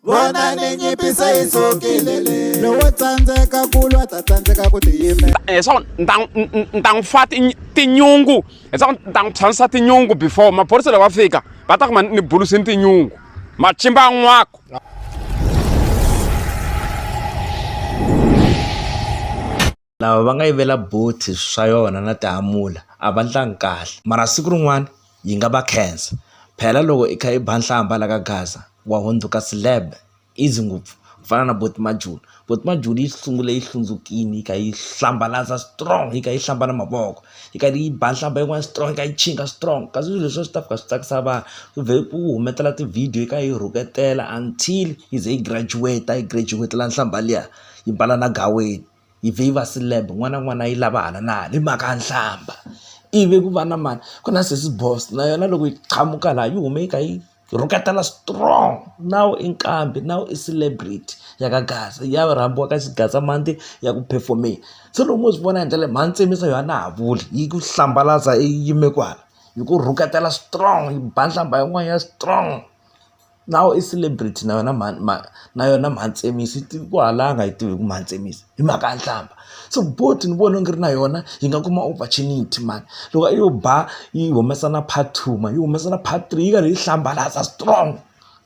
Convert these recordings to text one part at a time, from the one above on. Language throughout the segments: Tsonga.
vona ni nyipisa yi sukile le lowo tsandzeka ku lwa ta tsandzeka ku tiyimela leswaku ni ta n'wi fa tinyungu leswaku ni ta n'wi tshamisa tinyungu before maphorisa loko va fika va ta kuma ni bulusini tinyungu machimba an'wako Lava va nga yivela bolt swa yona na tihamula a va ndlangi kahle mara siku rin'wana yi nga va khensa phela loko i kha i ba nhlamba la ka gaza wa hundzuka celeb easy ngopfu ku fana na bolt majula bolt majula yi sungule yi hlundzukile yi kha yi hlambalaza strong yi kha yi hlamba na mavoko yi karhi yi ba nhlamba yin'wana strong yi kha yi chinga strong kasi swilo leswi a swi ta fika swi tsakisa vanhu ku vhe ku humetela tivhidiyo yi kha yi rhuketela until yi ze yi graduate yi graduate-ela nhlamba liya yi mbala na gaweni. yi vhe yi va celeb n'wana na n'wana yi lava hala na hala hi mhaka ya nhlambha ivi ku va na mani ku na sesi boss na yona loko yi qhamuka laha yi hume yi kha yi rhuketela strong now i nqambi now i celebrity ya ka gaza ya rhambiwa ka xigaza mhani ya ku perform-eni se loko mo swi vona hi ndlela leyi mhani tsemisa yona a na ha vuli yi ku hlambalaza i yime kwala yi ku rhuketela strong yi ba nhlambha yin'wana ya strong. na wena i celebrity na yona mhani mhani na yona mhani Tsemisi yi ku halanga a yi tivi hi ku mhani Tsemisi hi mhaka ya nhlamba so bolt ni vona onge ri na yona yi nga kuma opportunity mhani loko a yo ba yi humesa na part two mhani yi humesa na part three yi karhi yi hlambalaza strong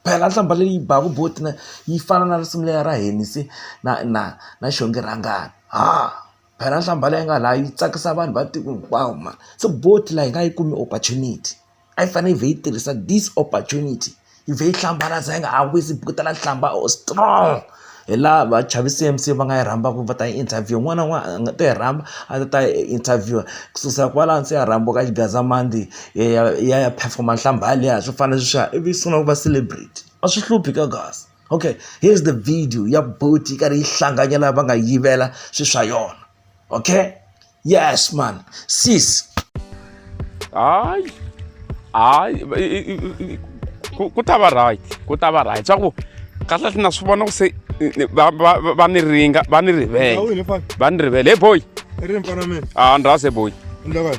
phela nhlamba leyi baka bolt na yi fana na risimu leriya ra Heni se na na na xonge rhangani ha phela nhlamba leyi nga laha yi tsakisa vanhu va tiko hinkwawo mhani se bolt la yi nga yi kumi opportunity. a yi fanele yi vhe yi tirhisa this opportunity yi vhe yi hlambalaza yi nga ha wisi yi bukutela nhlamba or strong hi laha va chavi C_M_C va nga yi rhambaka va ta yi interview un'wana na un'wana a nga ta yi rhamba a ta ta yi interview ku susa kwalano se ya rhambiwa ka xigandzalamandi ya ya yi ya ya perform-a nhlamba yaliya swo fana na sweswiya ivi yi sungula ku va celebrity a swi hluphi ka guys okay here is the video ya buti yi karhi yi hlanganyela va nga yivela swilo swa yona okay. Yes, man. Sis. Ay. Ay. Ku ta va right. Ku ta va right. Swa ku kahle na swi vona ku se va va va ni ringa va ni rivele. Va ni rivele. Hey boy. Ri mfana mina. Ah, ndrase boy. Ndakala.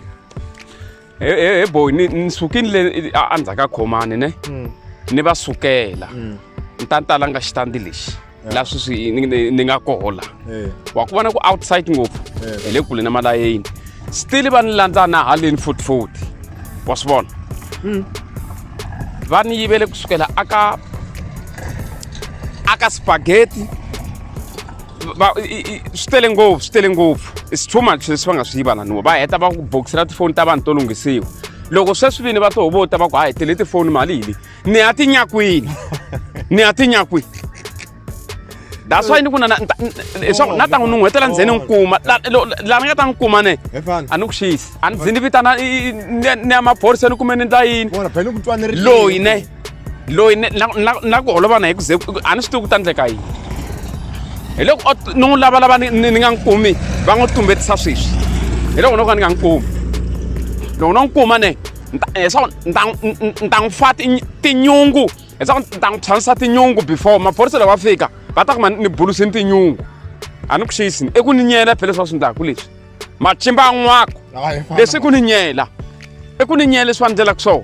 he he he boy ni ni sukini le a a ndzhaka khomani ne ni va sukela ni ta ni ta langa xitandi lexi la sweswi ni- ni ni nga kohola wa ku vona ku outside ngopfu hi le kule na malayeni still va ni landza na haleni futfuti wa swi vona va ni yivele kusukela aka aka spaghetti va- i- i- i- swi tele ngopfu swi tele ngopfu it's too much leswi va nga swi yiva laniwa va heta va ku bokisela tifoni ta vanhu to lunghisiwa loko sweswi vini va to hovota va ku ha hi tele tifoni mali hi leyi ni ya tinyakwini ni ya tinyakwini that's why ni ku na na- nta- n- leswaku na ta n'wi nun'hwetela ndzeni n'wi kuma La- lo- la ni nga ta n'wi kuma ne Efana. a ni ku xiyisi a ni ndzi ni vitana i- i- ni ya- ni ya maphoriseni kumbe ni ndla yini Vona phela ku twaneriwa. loyi ne loyi na ku holova na hi ku ze a ni swi tivi ku ta endleka yini hi loko ni n'wi lavalava ni nga n'wi kumi va n'wi tumbetisa sweswi hi loko no ka ni nga n'wi kumi loko no n'wi kuma ne leswaku ni ta n'wi fa tinyungu leswaku ni ta n'wi tshwanisa tinyungu before maphorisa loko va fika va ta kuma ni bulusini tinyungu a ni ku xiyisini i ku ni nyela phela leswi swi ndlaku leswi macimba an'wako leswi i ku ni nyela i ku ni nyela leswi va ndlelaka swona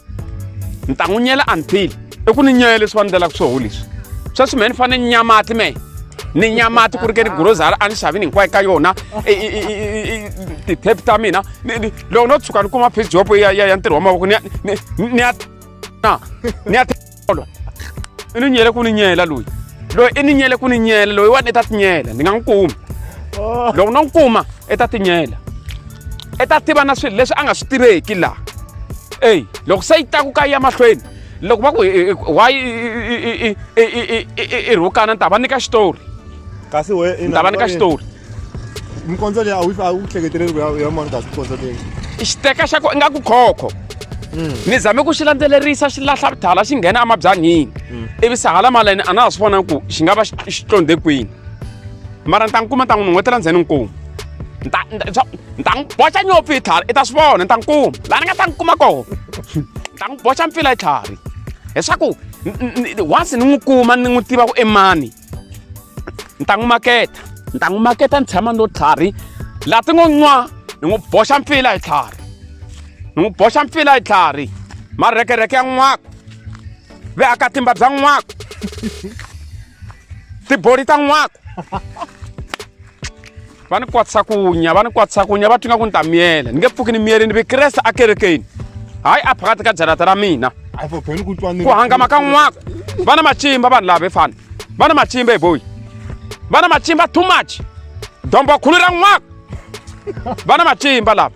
ni ta n'wi nyela until i ku ni nyela leswi va ni ndlelaka swoho leswi sweswi mehe ni fanele ni nyamati mehe ni nyamati ku ri ke ni grosari a ni xavini hinkwayo ka yona ti-tap ta mina loko no tshuka ni kuma page job ya ntirho wa mavoko ni ya ni ya na ni ya i ni nyele ku ni nyela loyi loyi i ni nyele ku ni nyela loyi wani i ta tinyela ni nga n'wi kumi oh. loko no n'wi kuma i ta tinyela i ta tiva na swilo leswi a nga swi tiveki laha eyi loko se yi taku ka yi ya mahlweni loko va ku why i rhukana ni ta va nyika xitori kasi we ni ta va nyika xitori mikondzo leyi a wu a wu hleketeleli ku ya ya mani kasi mikondzo leyi xiteka xa ko ingaku khokho hmm. ni zame ku xi landzelerisa xi lahla thala xi nghena emabyanhini hmm. ivi se hala malene a na ha swi vona ku xi nga va xi tlondhe kwini mara ni ta n'wi kuma ni ta n'wi nun'wetela ndzeni ni kuma ni ta ni ta n'wi boxa nyopfu hi tlhari i ta swi vona ni ta n'wi kuma laha ni nga ta n'wi kuma kona ni ta n'wi boxa mpfila hi tlhari leswaku once ni n'wi kuma ni n'wi tiva ku i mani ni ta n'wi maketa ni ta n'wi maketa ni tshama no tlhari laha ti ngo n'wa ni n'wi boxa mpfila hi tlhari ni n'wi boxa mpfila hi tlhari marhekerheke ya n'waka ve aka timba bya n'waka tiboli ta n'waka va ni kwatisa kunya va ni kwatisa kunya va twinga ku ni ta miyela ni nge pfuki ni miyele ni vikreste akerekeni hayi a phakati ka jarata ra mina ku hangama ka n'waka va na macimba vanhu lava efana va na macimba eboyi va na macimba too much dombo khulu ra n'waka va na macimba lava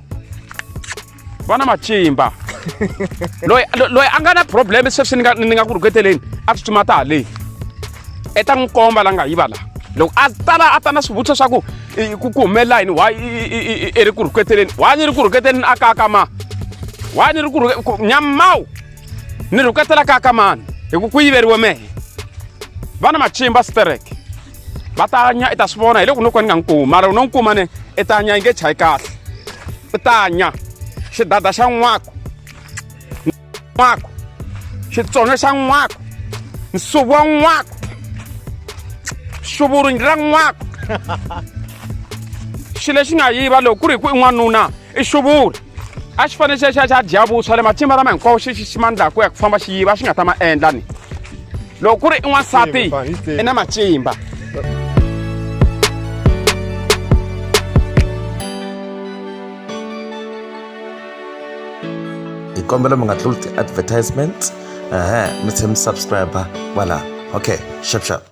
vana matimba loyi lo- loyi a nga na problem sweswi ni nga ni nga ku rhuketeleni a tsutsuma ta haleni i ta n'wi komba la nga yiva la loko a tala a ta na swivutiso swa ku i- ku ku humelela yini why i- i- i- i- i ri ku rhuketeleni why ni ri ku rhuketeleni a kaka ma why ni ri ku rhuke- ku- nyamawu ni rhuketela kaka mani hi ku ku yiveriwe mehe vana matimba stereke va ta nya i ta swi vona hi le ku no ka ni nga n'wi kumi mara u no n'wi kuma ne i ta nya yi nge chayi kahle i ta nya xidada xa n'waku n'waku xitsonyo xa n'waku nsuvu wa n'waku xuvurunyi ra n'waku xilo lexi nga yiva loko ku ri hi ku i n'wanuna i xuvula a xi fanele xi xi xa dya vuswa le matimba lama hinkwawo xi xi xi ma ndlaku ya ku famba xi yiva a xi nga ta ma endla ni loko ku ri i n'wansati i na matimba hi kombela mi nga tluli ti-advertisement ehe mi tlhe mi subscribe kwala okay shap shap